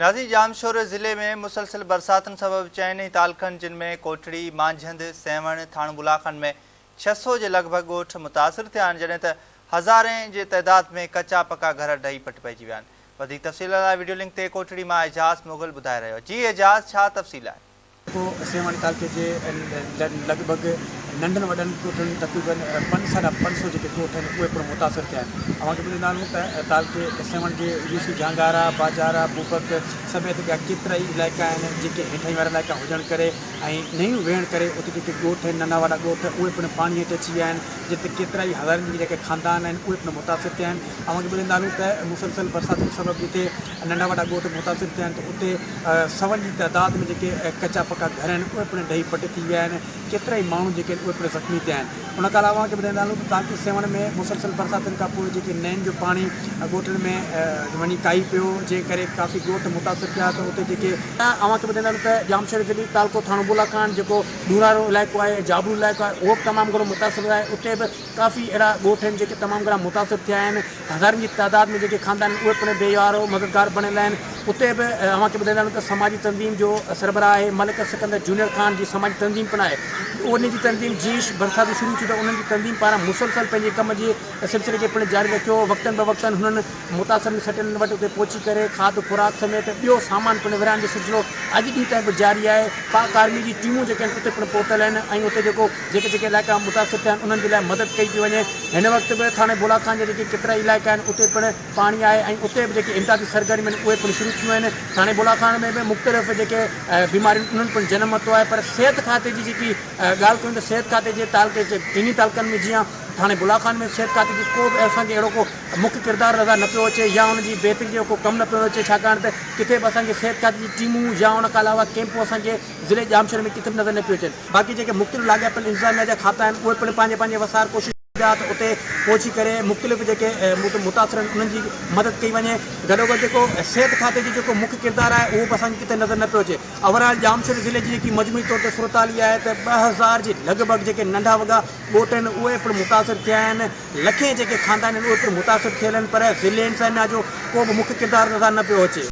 نازي ڄامشوري ضلعي ۾ مسلسل برساتن سبب چئن ئي تعلقن جن ۾ ڪوٽڙي، مانجهند، سيوهڻ، ٿاڻو بلاخن ۾ ڇهه سؤ جي لڳ ڀڳ ڳوٺ متاثر ٿيا آهن جڏهن ته هزارين جي تعداد ۾ ڪچا پڪا گهر ڊهي پٽ پئجي ويا آهن وڌيڪ تفصيل لاء وڊيو لنڪ تي ڪوٽڙي مان اعجاز مغل ٻڌائي رهيو جي اعجاز ڇا تفصيل آهي. جيڪو سيوهڻ تعلقي جي لڳ ڀڳ ننڍن وڏن ڳوٺن تقريبن پنج ساڍا پنج سؤ جيڪي ڳوٺ آهن اهي پڻ متاثر ٿيا آهن اوهان کي ٻڌائيندا هلون ته تعلقي سيوهڻ جي يو سي جهانگارا، باجارا، بوبڪ سميت ٻيا ڪيترائي علائقا آهن جيڪي هيٺاهين وارا علائقا هجڻ ڪري ۽ نيون ويهڻ ڪري اتي جيڪي ڳوٺ آهن ننڍا وڏا ڳوٺ اهي پڻ پاڻي هيٺ اچي ويا آهن جنهن تي ڪيترائي هزارين جيڪي خاندان آهن اهي پڻ متاثر ٿيا آهن اوهان کي ٻڌائيندا هلون ته مسلسل برساتن سبب جتي ننڍا وڏا ڳوٺ متاثر ٿيا آهن ته اتي سون جي تعداد ۾ جيڪي ڪچا پڪا گهر آهن اهي پڻ ڊهي پٽ ٿي ويا آهن ڪيترائي ماڻهو جيڪي آهن اهي پڻ زخمي ٿيا آهن ان کان علاوه اوهان کي ٻڌائيندا هلون ته تاڪي سيوهڻ ۾ مسلسل برساتن کان پوء جيڪي نئن جو پاڻي ڳوٺن ۾ وڃي ڪاهي پيو جنهن ڪري ڪافي ڳوٺ متاثر ٿيا ته اتي جيڪي اوهان کي ٻڌائيندا هلون ته ڄامشوري ضلعي تعلقو ٿاڻو بولا خان جيڪو ڏورانهرو علائقو آهي جابلو علائقو آهي اهو به تمام گهڻو متاثر آهي اتي به ڪافي اهڙا ڳوٺ آهن جيڪي تمام گهڻا متاثر ٿيا آهن هزارن جي تعداد ۾ جيڪي خاندان آهن اهي پڻ بيوهار و مددگار بڻيل آهن اتي به اوهان کي ٻڌائيندا هلون ته سماجي تنظيم جو سربراهه آهي ملڪ سڪندر جونيئر خان جي سماجي تنظيم پڻ آهي انهن جي تنظيم جيش برساتون شروع ٿيون ته انهن جي تنظيم پاران مسلسل پنهنجي ڪم جي سلسلي کي پڻ جاري رکيو وقتن بوقتن هنن متاثرن سٽن وٽ اتي پهچي ڪري کاڌ خوراڪ سميت ٻيو سامان پڻ ورهائڻ جو سلسلو اڄ ڏينهن تائين به جاري آهي پاڪ آرمي جي ٽيمون جيڪي آهن اتي پڻ پهتل آهن ۽ اتي جيڪو جيڪي جيڪي علائقا متاثر ٿيا آهن انهن جي لاء مدد ڪئي پئي وڃي هن وقت به ٿاڻي بولا خان جا جيڪي ڪيترائي علائقا آهن اتي پڻ پاڻي آهي ۽ اتي به جيڪي امدادي سرگرميون آهن اهي پڻ شروع ٿيون آهن ٿاڻي بولا خان ۾ به مختلف جيڪي بيماريون انهن پڻ جنم ورتو آهي پر صحت کاتي جي جيڪي ڳالهه ڪيون ته صحت کاتي جي تعلقي جي ٽنهي تعلقن ۾ جيئان ٿاڻي بولا خان ۾ صحت کاتي جي ڪو به اسان کي اهڙو ڪو مک ڪردار نظر نه پيو اچي يا ان جي بهتري جو ڪو ڪم نه پيو اچي ڇاڪاڻ ته ڪٿي به اسان کي صحت کاتي جي ٽيمون يا ان کان علاوه ڪيمپون اسان کي ضلعي ڄامشوري ۾ ڪٿي به نظر نه پيون اچن باقي جيڪي مختلف لاڳاپيل انتظاميا جا کاتا آهن اهي پڻ پنهنجي پنهنجي وسار ڪوشش ڪن پيا ته اتي پهچي ڪري مختلف جيڪي متاثر آهن انهن جي مدد ڪئي وڃي گڏوگڏ جيڪو صحت کاتي جو جيڪو مک ڪردار آهي اهو به اسان کي ڪٿي نظر نه پيو اچي اوور آل ڄامشوري ضلعي جي جيڪي مجموعي طور تي صورتحال اها آهي ته ٻه هزار جي لڳ ڀڳ جيڪي ننڍا وڳا ڳوٺ آهن اهي پڻ متاثر ٿيا آهن لکين جيڪي خاندان آهن اهي پڻ متاثر ٿيل آهن پر ضلعي انتظاميا جو ڪو به مکي ڪردار نظر نه پيو اچي.